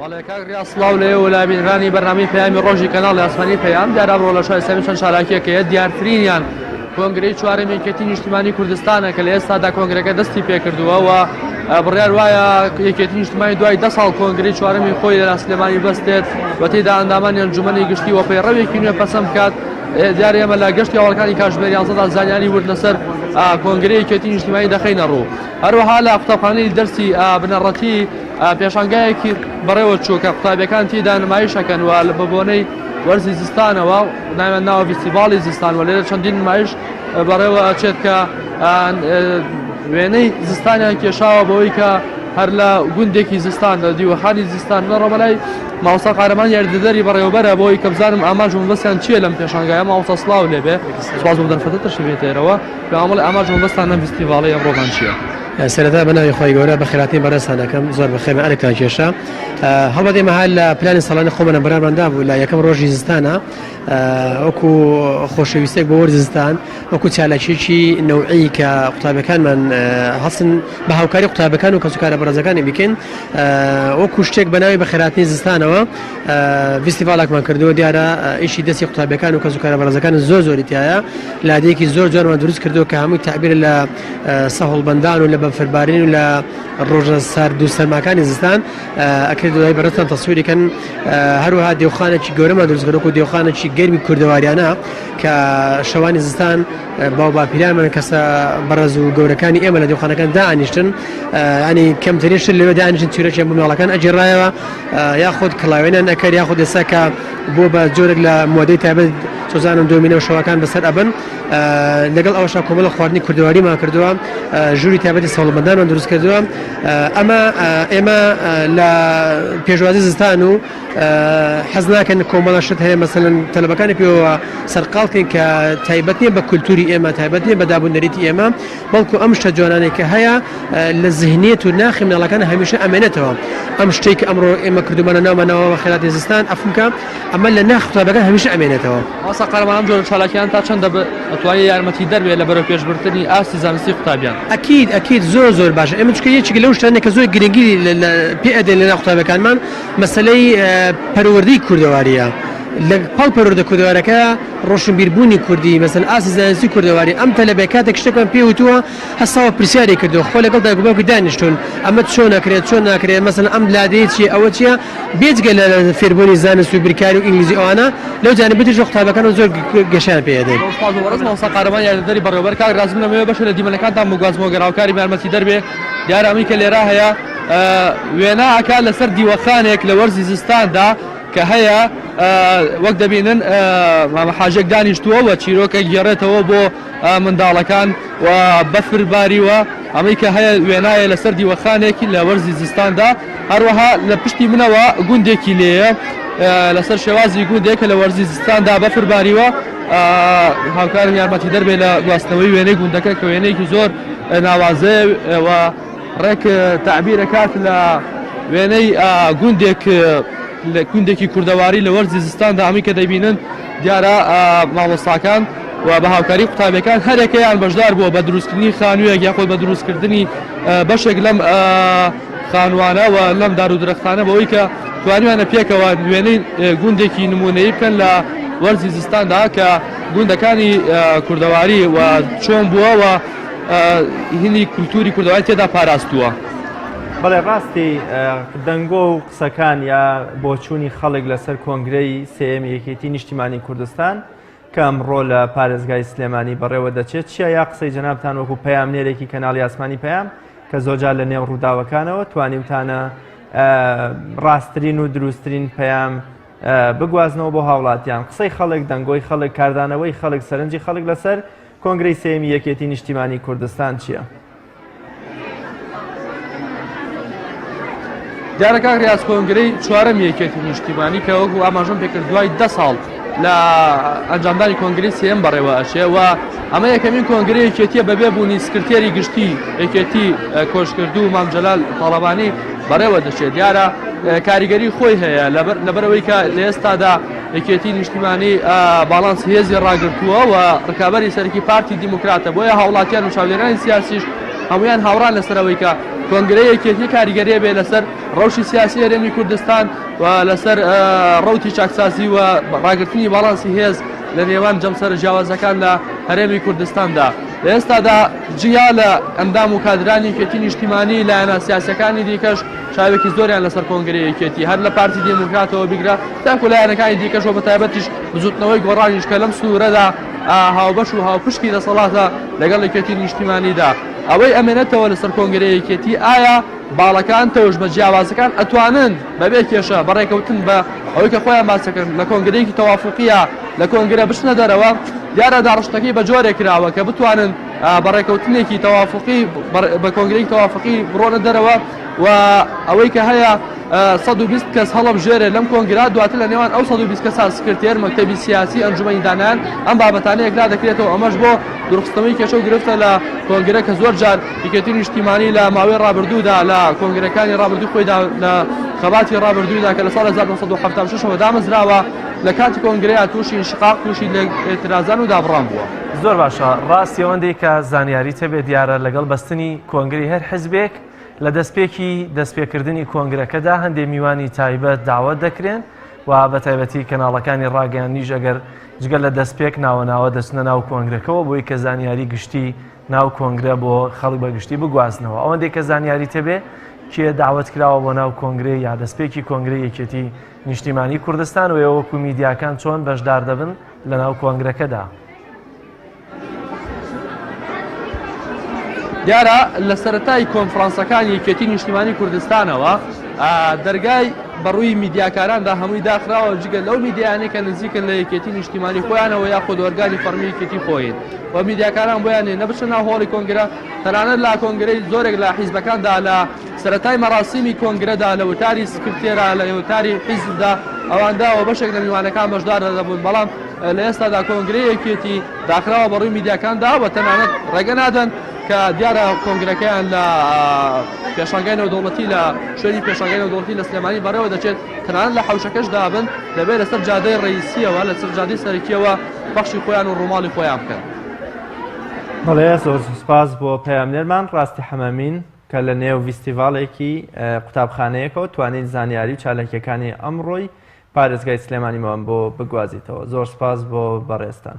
بەڵێ کاک ڕیا سڵاو لە ئێوە لای بینرانی بەرنامەی پەیامی ڕۆژی کەناڵی ئاسمانی پەیام دیارە ئەمڕۆ لە شای سەمی چەند شاراکیەکە هەیە دیارترینیان کۆنگرەی چوارەم یەکێتی نیشتیمانی کوردستانە کە لە ئێستادا کۆنگرەکە دەستی پێکردووە و بڕیار وایە یەکێتی نیشتمانی دوای دە ساڵ کۆنگری چوارەمی خۆی لە سلێمانی بەستێت و تێدا ئەندامانی ئەنجومەنی گشتی و پەیڕەوێکی نوێ پەسەند بکات دیارە ئێمە لە گەشتی ئەوڵەکانی کاژمێر یانزەدا زانیاری ورد لەسەر کۆنگری یەکێتی نیشتمانی دەخینە ڕوو هەروەها لە قوتابخانەی دەرسی بنەڕەتی پێشانگایەکی بەڕێوە چوو کە قوتابیەکان تیدا نمایش ئەکەن و لە بەبۆنەی وەرزی زستانەوە ناویان ناوە ڤیستیڤاڵی زستان و لێرە چەندین نمایش بەڕێوە ئەچێت کە وێنەی زستانیان کێشاوە بەوەی کە هەر لە گوندێکی زستان لە دیوەخانی زستان لە ڕۆمەلای ماوسا قارەمان یاریدەدەری بەڕێوەبەرە بۆی کە بزانم ئاماژ مەبەستیان چییە لەم پێشانگایە ماوسا سلااو لێبێ سپاس بۆ دەرفەتە تەشریفێتێرەوە پێمەڵی ئاماژ مەبەستان لەم فستیڤاڵی ئەمڕۆمان چییە؟ سەرەتا بەناوی خۆی گەورە بە خێراتنی بەڕێستانەکەم زۆر بە خێمە ئەرکتان کێشا هەڵبەت ئێمە هەر لە پلانی ساڵانی خۆمەە بەراماندا بوو لە یەکەم ڕۆژی زستانە وەکو خۆشەویستێک بۆ وەرزستان وەکو چالاکیێکی نەوعی کە قوتابەکانمان هەستن بە هاوکاری قوتابەکان و کەسوکارە بەڕێزەکانی بکەین وەکو شتێک بەناوی بە خێراتنی زستانەوە ویستیڤالێکمان کردووە دیارە ئیشی دەستی قوتابەکان و کەسوکارە بەڕێزەکان زۆر زۆری تایە لادێکی زۆر جوانمان دروست کردو کە هەمووی تعبیر لە سەهۆڵبەندان و لە بەفربارین و لە ڕۆژە سارد و سەرماکانی زستان ئەکرێت دوای بەڕێتان تەسووریکەن هەروها دێوخانێکی گەورەمان دروستگەرۆک و دێوخانێکی گەرمی کوردەواریانە کە شەوانی زستان باو باپیرامن کەسە بەڕێز و گەورەکانی ئێمە لە دێوخانەکان دانیشتن ینی کەمترین شت لەوێ دانیشتن تورەکیان بۆ ماڵەکان ئەگیێڕایەوە یاخود کڵاوێنان ئەکەر یاخود ئێستا کە بۆ بە جۆرێک لە مۆدەی تابێت سۆزان و دۆمینە و شەوەکان بەسەر ئەبن لەگەڵ ئەوەشا کۆمەڵە خواردنی کوردەواریمان کردووە ژووری تابەتی سەڵمەدانمان دروست کردووە ئەمە ئێمە لە پێشوازی زستان و حەز ناکەن کۆمەڵە شت هەیە مەسەن تەلبەکانی پێوە سەرقاڵکەین کە تایبەتە بە کولتوری ئێمە تایبەتە بە دابوونەریتی ئێمە بەڵکو ئەم شتە جوانانەی کە هەیە لە زهنیەت و ناخی مناڵەکان هەمیشە ئەمێنێتەوە ئەم شتەی کە ئەمڕۆ ئێمە کردومانە ناومە ناوەوە خێراتی زستان ئەفمکە ئەمە لە ناخ قوتابەکان هەمیشە ئەمێنێتەوە ئاسا قارەمان ئەم جۆرە چالاکیان تا چەندە بەتوانێت یارمەتی دەربێت لە بەرەو پێش بردنی ئاستی زانستی قوتابیان؟ ئەکید ئەکید زۆر زۆر باشە ئێمە چکە یەکێک لەو شتانە کە زۆر گرنگی پێ ئەدەین لە ناو قوتابیەکانمان مەسەلەی پەروەردەی کوردەواریە لە پاڵ پەروەردە کوردەوارەکە ڕۆشنبیربوونی کوردی، مەزن ئاستی زانستی کوردەواری، ئەم تەلەبەیە کاتێک شتێکمان پێی وتووە، هەستاوە پرسیاری کردووە، خۆ لەگەڵ دایک و باوکی دانیشتوون، ئەمە چۆن ئەکرێت، چۆن ناکرێت، مەسەلەن ئەم لادێی چییە، ئەوە چییە، بێجگە لە فێربوونی زانست و بیرکاری و ئینگلیزی و ئەوانە، لەو جانبە تریشەوە قوتابیەکانمان زۆر گەشەیان پێ ئەدەین. سوپاس بۆ بەڕێز مامۆستا قارەمان یاریدەدەری بەڕێوەبەر. کاک ڕازی من ئەمەوێ بەشێ لە دیمەنەکانتان بگوازمەوە گەر هاوکاریم یارمەتیدەر بێ، دیارە ئەمەی کە لێرا هەیە وێنا ئەکا لەسەر دیوەخانێک لە وەرزی زستاندا، کە هەیە وەک دەبینن مامە حاجێک دانیشتووە و چیرۆکە گێڕێتەوە بۆ منداڵەکان و بەفر باریوە ئەمەی کە هەیە وێنایە لەسەر دیوەخانێکی لە وەرزی زستاندا هەروەها لە پشتی منەوە گوندێکی لێە لەسەر شێوازی گوندێک کە لە وەرزی زستاندا بەفر باریوە هاوکارم یارمەتی دەربێ لە گواستنەوەی وێنەی گوندەکە کە وێنەیەکی زۆر ناوازەیە و ڕێک تەعبیر ئەکات لە وێنەی گوندێک لە گوندێکی کوردەواری لە وەرزی زستاندا ئەمی کە دەبینن دیارە مامۆستاکان و بە هاوکاری قوتابەکان هەرێکەیان بەشدار بووە بە دروستکردنی خانوویەک یاخۆی بە دروستکردنی بەشێک لەم خانوانە و لەم دار و درەختانە بەوەی کە توانیانە پێکەوە نوێنەی گوندێکی نمونەی بکەن لە وەرزی زستاندا کە گوندەکانی کوردەواری و چۆن بووەوە هیلی کولتووری کوردەواری تێدا پاراستووە. بەڵێ ڕاستی دەنگۆ و قسەکان یا بۆچوونی خەڵک لەسەر کۆنگرەی سێیەمی یەکێتی نیشتیمانی کوردستان کە ئەمڕۆ لە پارێزگای سلێمانی بەڕێوە دەچێت چیە یا قسەی جەنابتان وەکو پەیامنێرێکی کەناڵی ئاسمانی پەیام کە زۆجار لە نێو ڕووداوەکانەوە توانیوتانە ڕاستترین و دروستترین پەیام بگوازنەوە بۆ هاوڵاتیان قسەی خەڵک دەنگۆی خەڵک کاردانەوەی خەڵک سەرنجی خەڵک لەسەر کۆنگرەی سێیەمی یەکێتی نیشتیمانی کوردستان چییە؟ دیارە کاک ریاز کۆنگرەی چوارەم یەکێتی نیشتیمانی کە وەکو ئاماژەم پێکرد دوای دە ساڵ لە ئەنجامدانی کۆنگری سێم بەڕێوە ئەچێ و ئەمە یەکەمین کۆنگری یەکێتیە بەبێ بوونی سکرتێری گشتی یەکێتی کۆشکردو مام جەلال تاڵەبانی بەڕێوە دەچێت دیارە کاریگەری خۆی هەیە لەبەرەوەی کە لە ئێستادا یەکێتی نیشتیمانی باڵانس هێزی ڕاگرتووە و ڕکابەری سەرکی پارتی دیموکراتە بۆیە هاوڵاتیان و چاودێرانی سیاسیش هەمویان هاوڕان لەسەرەوەی کە کۆنگرەی یەکێتی کاریگەرێ بێ لەسەر ڕەوشی سیاسی هەرێمی کوردستان و لەسەر ڕوتی چاکسازی و ڕاگررتنی باڵانسی هێز لە نێوان جەمسەر جیاوازەکان لە هەرێمی کوردستاندا لە ئێستادا جیا لە ئەندام و کادرانی کێتی نیشتیمانی لایەنە سیاسەکانی دیکەش چاوێکی زۆریان لەسەر کۆنگرەی یەکێتی هەر لە پارتی دێموکراتەوە بیگرە تاکو لایەنەکانی دیکەش و بەتایبەتیش بزوتنەوەی گۆڕانیش کە لەم سنورەدا هاوبەش و هاوپشتی دەسەڵاتە لەگەڵ یەکێتی نیشتیمانیدا ئەوەی ئەمێنێتەوە لەسەر کۆنگرەی یەکێتی ئایا باڵەکان تەوژمە جیاوازەکان ئەتوانن بەبێ کێشە بەڕێکەوتن بە ئەوەی کە خۆیان باسەکەن لە کۆنگرەیەکی تەوافقیە لە کۆنگرە بچنە دەرەوە دیارە داڕشتەکەی بە جۆرێک کراوە کە بتوانن بەڕێکەوتنێکی تەوافقی بە کۆنگرەی تەوافقی بڕۆنە دەرەوە و ئەوەی کە هەیە 120 کەس هەڵەبژێرێت لەم کۆنگرا دواتر لە نێوان ئەو 120 کەسان سکرتێر مەکتەبی سیاسی ئەنجومی دانان ئەم بابەتانە یەکلا دەکرێتەوە ئەمەش بۆ درخستنەوەی کێشە و گرفتە لە کۆنگرە کە زۆر جار یکێتی نیشتیمانی لە ماوەی ڕابردوودا لە کۆنگرەکانی ڕابردوو خۆیدا لە خەباتی ڕابردوودا کە لە ساڵ 1970 دامەزراوە لە کاتی کۆنگرەیە تووشی شقاق تووشی لە ئێترازان و دابڕان بووە زۆر باشە ڕاستی ئەوەندەی کە زانیاری تەبێ دیارە لەگەڵ بەستنی کۆنگری هەر حزبێک لە دەستپێکی دەستپێکردنی کۆنگرەکەدا هەندێ میوانی تایبەت داوەت دەکرێن و بە تایبەتی کەناڵەکانی ڕاگەیاندنیش ئەگەر جگە لە دەستپێک ناوە ناوە دەچنە ناو کۆنگرەکەەوە بۆی کە زانیاری گشتی ناو کۆنگرە بۆ خەڵک بە گشتی بگوازنەوە ئەوەندێک کە زانیاری تەبێ کێ داوت کراوە بۆ ناو کۆنگرێ یا دەستپێکی کۆنگری یەکێتی نیشتیمانی کوردستان و ئێوەکو میدیاکان چۆن بەشدار دەبن لە ناو کۆنگرەکەدا. دیارە لە سەرەتای کۆنفرانسەکانی یەکێتی نیشتیمانی کوردستانەوە دەرگای بەڕووی میدیاکاراندا هەمووی داخراوە جگە لەو میدیانە کە نزیکن لە یەکێتی نیشتیمانی خۆیانەوە یا خۆدۆرگانی فەرمیکێتی خۆین و میدیاکاران بۆیانێ نەبچە ناو هۆڵی کۆنگرە تەنانەت لا کۆنگرەی زۆرێک لە حیزبەکاندا لە سەرەتای مەراسیمی کۆنگرەدا لە وتاری سکرتێرا لە وتاری حیزبدا ئەواندا و بەشێک لە میوانەکان بەشدار دەبوون بەڵام لە ئێستادا کۆنگرە یەکێتی داخراوە بەڕووی میدیاکاندا و تەنانەت ڕێگە نادەن کە دیارە کۆنگرەکەیان لە پێشانگای نەودەوڵەتی لە شوێنی پێشانگای نەودەوڵەتی لە سلێمانی بەڕێوە دەچێت تەنانەت لە حوشەکەش دابن دەبێت لەسەر جادەی ڕئیسیەوە لە سەر جادی سەرکیەوە بەخشی خۆیان و ڕووماڵی خۆیان بکەن بەڵێ زۆر سوپاس بۆ پەیامنێرمان ڕاستی حەمامین کە لە نێو ڤیستیڤاڵێکی قوتابخانەیەکەوە توانیت زانیاری و چالاکیەکانی ئەمڕۆی پارێزگای سلێمانیمان بۆ بگوازیتەوە زۆر سپاس بۆ بەڕێزتان.